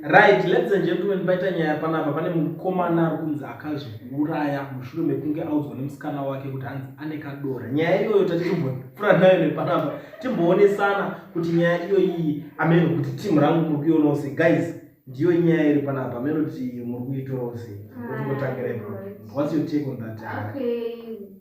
right ladies and gentlemen paita nyaya panapa pane mukomana ari kunzi akazviuraya mushure mekunge audzwa nemusikana wake kuti hanzi ane kadora nyaya iyoyo tati timbopfura nayo nepanapa timboonesana kuti nyaya iyoyi ameno kuti timu rangu muri kuionawo se guys ndiyo nyaya iri panapa ameno kuti muri kuitorawo se kuti kotangirepo what's your take on that okay.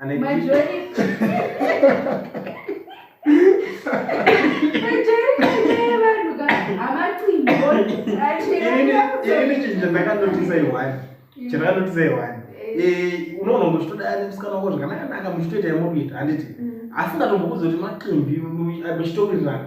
Ane My drip. journey. My journey today, vanhu ka. Amacimbi, achira. Ini chinja ndakanotisa iwani. Chandakanotisa iwani. Eh, unoona kuti toda ani musikana wako zvakanaka naka muchitoita yamukuita handiti. Mm. Asi ndatombokuza kuti maqimbi muchitowirirana.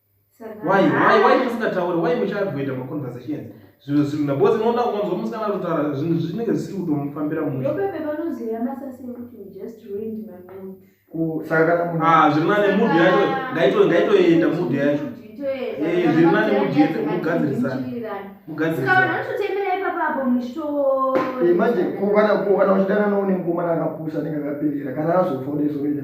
why why why musingataure why muchavoida maconversations zvinhu zvinhu nabozi unoona ukanzwa musikana kutaura zvinhu zvinenge zvisiri kutomufambira muopepe vanoziva masasi ekuti just ruined my mood Ah, zviri nane mudhi yacho ngaitoenda mudhi yacho eh, zviri nane mudhi yacho mugadzirisana mugadzirisanaimanje kana uchidana noune ngoma nakapusa nenge akaperera kana azofoda izoita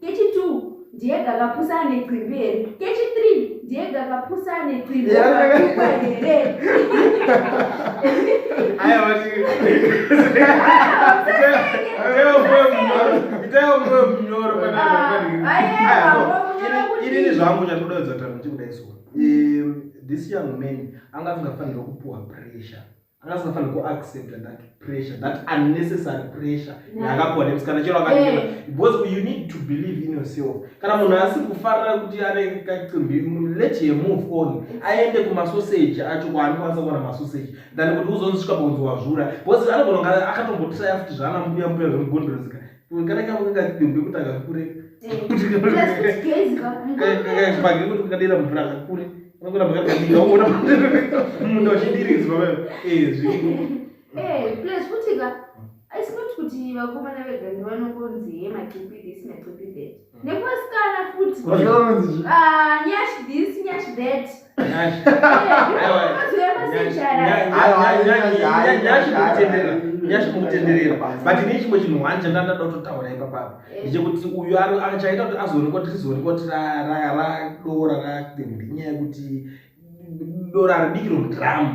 Kechi 2 ndiye gakapusa ane qimbi here? Kechi 3 ndiye gakapusa ane qimbi akakwa here? Aya wati. Aya mwe mnyoro. Itayo mwe mnyoro kana kana. Aya mwe mnyoro kuti. Ini zvangu chatoda kuzata kuti kudai so. Eh this young man anga asingafanira kupuwa pressure. anga asingafanira kuaccepta that pressure that unnecessary pressure yaakapiwa nemusikana chero akaia eh. because you need to believe in yourself kana munhu asi kufarira kuti ane kacimbi let her move on aende kumasoseji acho kwaanokwanisa kuwana masoseji than kuti uzonzisvika pakunzi wazvura because anogona akatombotaya futi zvaana mbuya mbuya zvemugondorezika kana kama kunga kipembe kuti akakure page kuti kukadira mvura akakure unogona pakadadika uona munda uchidiridzwa wewe eh zviko eh plus futi ka it's not kuti vakomana vega ndivanongonzi hema keep this na keep that Nekusikana futi. Ah, nyash this, nyash that. Nyash. Nyash mukutenderera. But ini chimwe chinhu wanje ndanda dototaura ipa papa. Eh. Ndichekuti uyu achaita kuti azoonekwa kuti rizoonekwa kuti ra ra ra dora ra ndinyaya yekuti dora ridiki romudramu.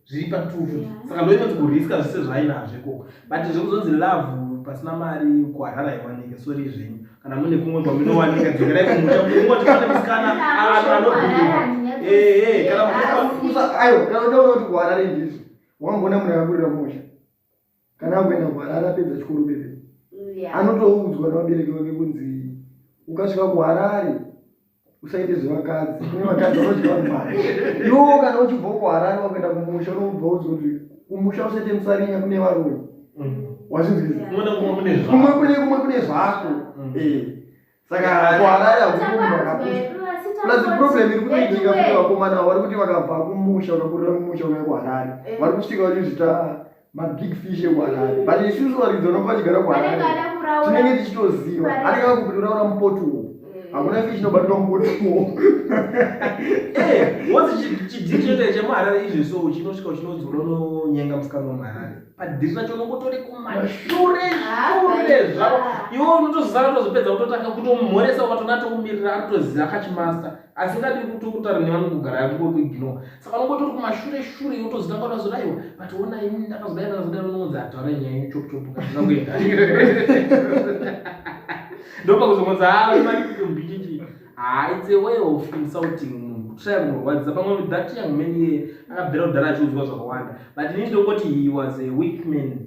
zviri patufu saka ndoinoti kuriska zvese zvainazvo ikoko but zvekuzonzi love pasina mari kuharara iwanike sori zvenyu kana mune kumwe kwaminowanika dzokerai kumusha mungoti pane musikana anobhiiwa ee kana aiwa kana udaona kuti kuharare ndizvo wamboona munhu akakurira musha kana akuenda kuharare apedza chikoro bebe anotoudzwa nevabereki vake kunzi ukasvika kuharare usaite zvevakadzi kune vakadzi vanodya vanhu mari iwowo kana uchibvawo kuharare wakuenda kumusha unobva udzwa kuti kumusha usaite musarinya kune varume mm. wazvinzwiza kumwe kune zvako mm. eh. saka kuharare hakuuaproblem iri kutoitika kuti vakomana vari kuti vakabva kumusha vakakurira kumusha uya kuharare eh. vari kusvika vachizvita mabig fish ekuharare but isusu varidzi vanobva vachigara kuharare tinenge tichitoziva anenge vakutoraura mupoti uwo hakuna fish inobatwa mubotomo eh, wonzi chidii chote chemuharare izvi so uchinosvika uchinodziunono nyenga musikana wemuharare padhiri racho unongotore kumashure shure zvavo iwe unotozara tozopedza kutotanga kutomhoresa ukatona tokumirira anotoziva kachimasta asi ngadi kuti kutara nevamwe kugara yakukokuigino saka unongotori kumashure shure iwe utozitanga utazodaiwa but ona ini ndakazodai ndakazodai unongonzi ataura nyaya yenyu chokuchopu kazvina kuenda ndopakuzokonza haa ah, imanikitombichichii haa it's a way of insulting munhu kutraya kumurwadzisa pamwe with that young man iye akabvira kudhara achiudzwa zvakawanda but ini ndokoti he was a weak man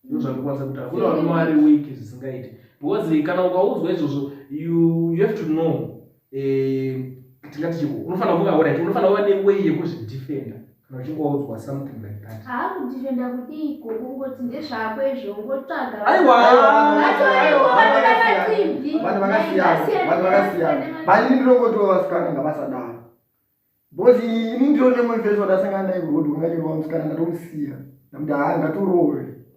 ndozvandikwanisa kutaura kune varume vari weak zvisingaiti because kana ukaudzwa izvozvo you, you have to know eh, tingati chiko unofanira kuva right unofanira kuva neway yekuzvidefenda kana uchingoudzwa something like that haa kudifenda kudiiko kungoti ndezvako izvo ungotsvaga baini ndinongotiwo vasikana ngavasadaro because ini ndiro nemwe mfesi wadasangana naye kuti unganyirwa musikana ndatomusiya ndamuti haa ngatorowe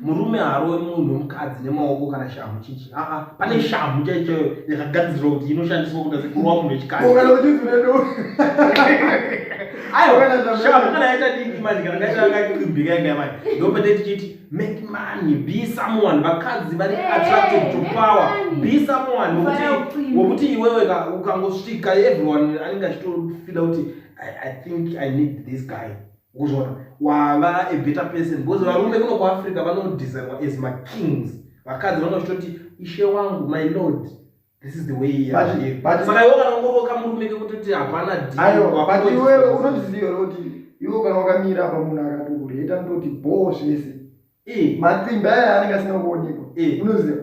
murume haaroi munhu wemukadzi nemaoko kana shamhu chichi aa pane shamhu chaichoyo yakagadzirwa kuti inoshandiswa kuda sekurova munhu wechikaziaiwashamhu kana yaita diki manje kana kaita yakakimbika yanga yamai ndopete tichiti make money be someone vakadzi vari attracted to power be someone wokuti iwewe ukangosvika everyone anenge achitofila kuti i think i need this guy ukuzviona wava a better person because varume kuno kuafrica vanodesignwa as makings vakadzi vanozvitoti ishe wangu my lord this is the way saka iwe kana ungoroka murume kekutoti hapana dbut iwewe unozviziva here kuti iwe kana wakamira apa munhu akati ureta ndoti bhoo zvese matsimba aya anenge asina kuonekwa unoziva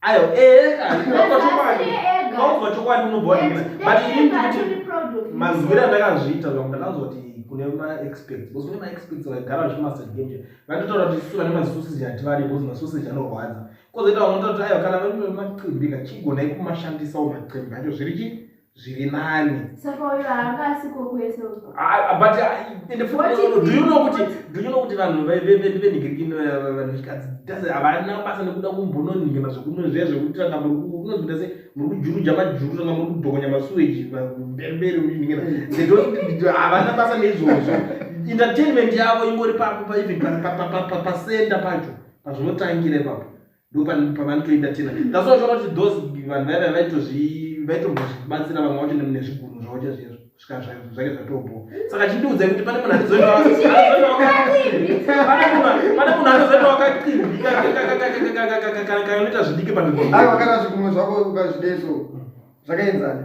ayo ega ndinobva chokwadi ndinobva chokwadi unobva but ini ndikuti mazwira ndakazviita zvangu ndakanzoti kune maexpects because kune maexpects vaigara vachimaster game vaitotaura kuti isu vane masoseji hativadi because masoseji anorwadza kozoita vamwe toti ayo kana vaitoe macimbika chigonai kumashandisa wo macimbika acho zviri chii zviri nani saka uyo haanga asiko kwese uko ah, ah, but ah, ende do you know kuti do you know kuti vanhu venhigiriki vanhikadzi does havana basa nekuda kumbononhingana zvekuno zviya zvekuti ranga muri unozvita se muri kujuruja majuru ranga muri kudhokonya masuweji mberi mberi uchinhingana they havana basa neizvozvo entertainment yavo ingori papo paivhipasenda pacho pazvinotangira ipapo ndopavanotoita tena that's why uchaona kuti those vanhu vaiva vaitombozvibatsira vamwe vacho nezvigunhu zvavo chazvizvo kusvika zvake zvatobho saka chindiudzai kuti pane munhu azoendapane munhu anozoenda wakaqinbikakanoita zvidiki panoita zvigunhu zvako ukazvideso zvakaenzana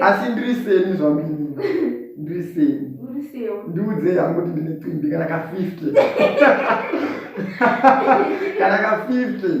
asi ndiri seni zvamini ndiri seni ndiudzei hangu kuti ndine twimbi kana ka 50 kana ka 50